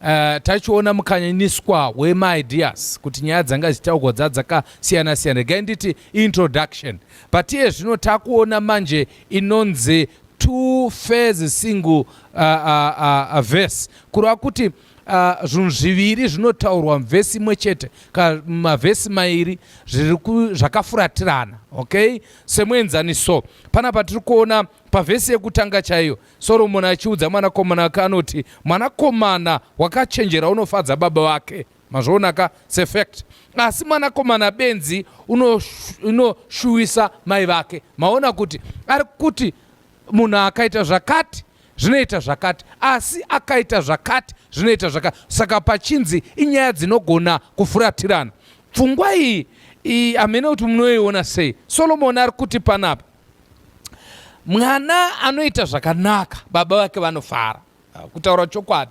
Uh, tachiona mukanyaniswa wemaideas kuti nyaya dzanga dzichitaugwa dza dzakasiyana siyana regai nditi introduction but iye zvino takuona manje inonzi two fairs single uh, uh, uh, uh, verse kureva kuti uh, zvinhu uh, zviviri zvinotaurwa muvhesi imwe chete ka mavhesi mairi zvakafuratirana okay semuenzaniso panapa tiri kuona Pavhesi yekutanga chaiyo, Soromoni achiudza mwanakomana wake anoti, Mwanakomana wakachenjera unofadza baba vake. Mazviona ka? Sefact. Asi mwanakomana benzi unoshuwisa mai vake. Maona kuti ari kuti munhu akaita zvakati zvinoita zvakati asi akaita zvakati zvinoita zvakati saka pachinzi inyaya dzinogona kufuratirana pfungwa iyi iyi hamene kuti munoiona sei solomoni ari kuti panapa Mwana anoita zvakanaka, baba vake vanofara. Ah, kutaura chokwadi,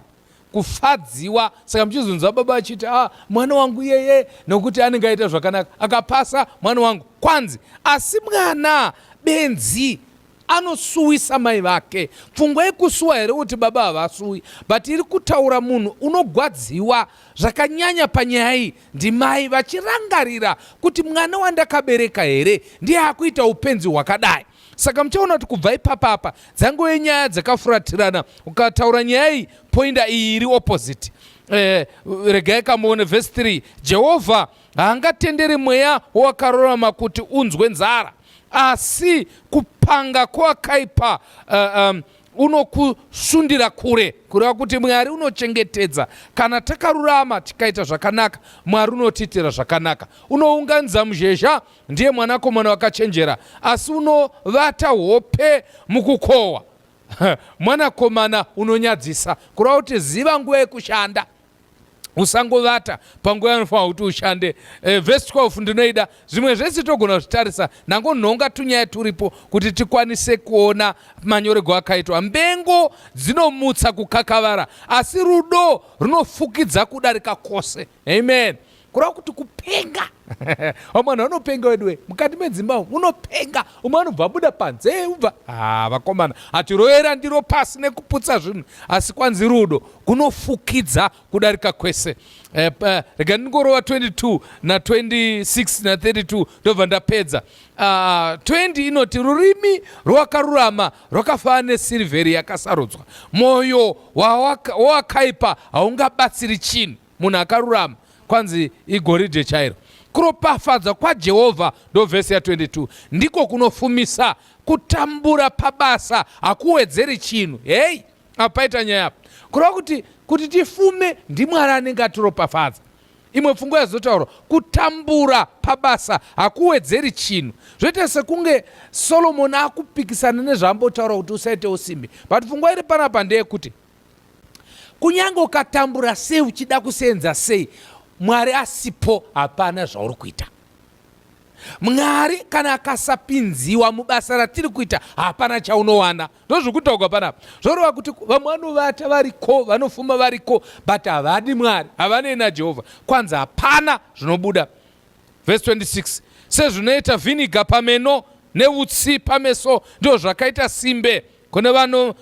kufadziwa. Saka muchizonzwa baba vachiti ah, mwana wangu yeye, nokuti anenge aita zvakanaka, akapasa mwana wangu kwanzi. Asi mwana benzi anosuwisa mai vake. Pfungwa yekusuwa here kuti baba havasuwi, but iri kutaura munhu unogwadziwa zvakanyanya panyaya iyi. Ndimai vachirangarira kuti mwana wandakabereka here ndiye akuita upenzi hwakadai. Saka muchaona kuti kubva ipapa apa dzangove nyaya dzakafuratirana. Ukataura nyaya iyi poinda iyi iri opposite. Eh, regai kamuone vhesi 3 jehovha haangatenderi mweya wawakarorama kuti unzwe nzara asi kupanga kwakaipa uh, eh, um, unokusundira kure kureva kuti mwari unochengetedza kana takarurama tikaita zvakanaka mwari unotiitira zvakanaka unounganidza muzhezha ndiye mwanakomana wakachenjera asi unovata hope mukukohwa mwanakomana unonyadzisa kureva kuti ziva nguva yekushanda usangovata panguva yanofanira kuti ushande e, vhesi 12 ndinoida zvimwe zvese togona kuzvitarisa nango nhonga tunyaya turipo kuti tikwanise kuona manyorego akaitwa mbengo dzinomutsa kukakavara asi rudo runofukidza kudarika kwose amen kureva kuti kupenga vamwe vanhu vanopenga weduwe mukati medzimba umu unopenga umwe anobva abuda panze ubva ha vakomana hatiroyera ndiro pasi nekuputsa zvinhu asi kwanzi rudo kunofukidza kudarika kwese eh, eh, rega ndingorova 22 na 26 na 32 ndobva ndapedza 20 ah, inoti rurimi rwakarurama rwakafanana nesirivheri yakasarudzwa mwoyo wawakaipa haungabatsiri chinhu munhu akarurama kwanzi igoridhe chairo kuropafadzwa kwajehovha ndovhesi ya22 ndiko kunofumisa kutambura pabasa hakuwedzeri chinhu hei apaita nyaya apa kureva kuti kuti tifume ndimwari anenge atiropafadza imwe pfungwa yazotaurwa kutambura pabasa hakuwedzeri chinhu zvoita sekunge solomoni akupikisana nezvaambotaura kuti usaite usimbi but pfungwa iri panapa ndeyekuti kunyange ukatambura sei uchida kuseenza sei mwari asipo hapana zvauri kuita mwari kana akasapinziwa mubasa ratiri kuita hapana chaunowana ndozvikutaugwa panapa zvorova kuti vamwe vanovata variko vanofuma variko but havadi mwari havanei najehovha kwanzi hapana zvinobuda vhesi 26 sezvinoita vhiniga pameno neutsi pameso ndizvo zvakaita simbe kune vano uh,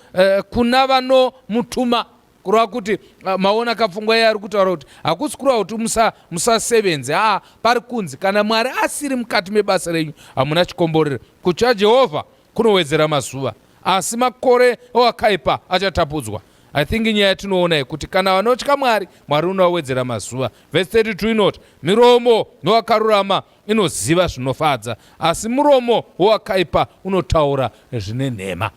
kuna vanomutuma kureva kuti uh, maona kapfungwa iye ari kutaura kuti hakusi kureva kuti musa, musasevenze aa ah, pari kunzi kana mwari asiri mukati mebasa renyu hamuna chikomborero kutya jehovha kunowedzera mazuva asi makore owakaipa achatapudzwa i think nyaya yatinoona yekuti kana vanotya mwari mwari unowawedzera mazuva vhesi 32 inoti miromo nowakarurama inoziva zvinofadza, asi muromo wowakaipa unotaura zvine nhema.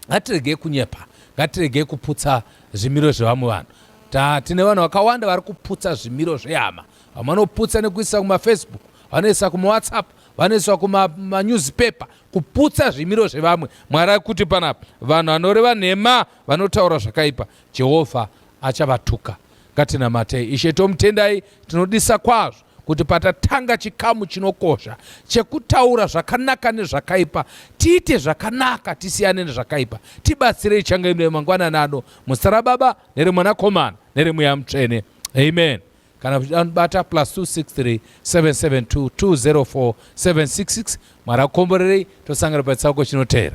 Ngatiregei kunyepa, ngatiregei kuputsa zvimiro zvevamwe vanhu. Ta, tine vanhu vakawanda vari kuputsa zvimiro zvehama. Vamwe vanoputsa nekuisa kumafacebook, vanoisa kumawhatsapp, vanoiswa kumanewspaper kuputsa zvimiro zvevamwe. Mwari akuti panapa vanhu vanoreva nhema, vanotaura zvakaipa, Jehovha achavatuka. Ngatinamatei. Ishe tomutendai, tinodisa kwazvo kuti patatanga chikamu chinokosha chekutaura zvakanaka nezvakaipa tiite zvakanaka tisiyane nezvakaipa tibatsirei changa ino yemangwana nano muzita rababa neremwanakomana neremweya mutsvene amen kana zvidanobata plus 263 772 204 766 mwari akomborerei tosangana pachitsauko chinoteera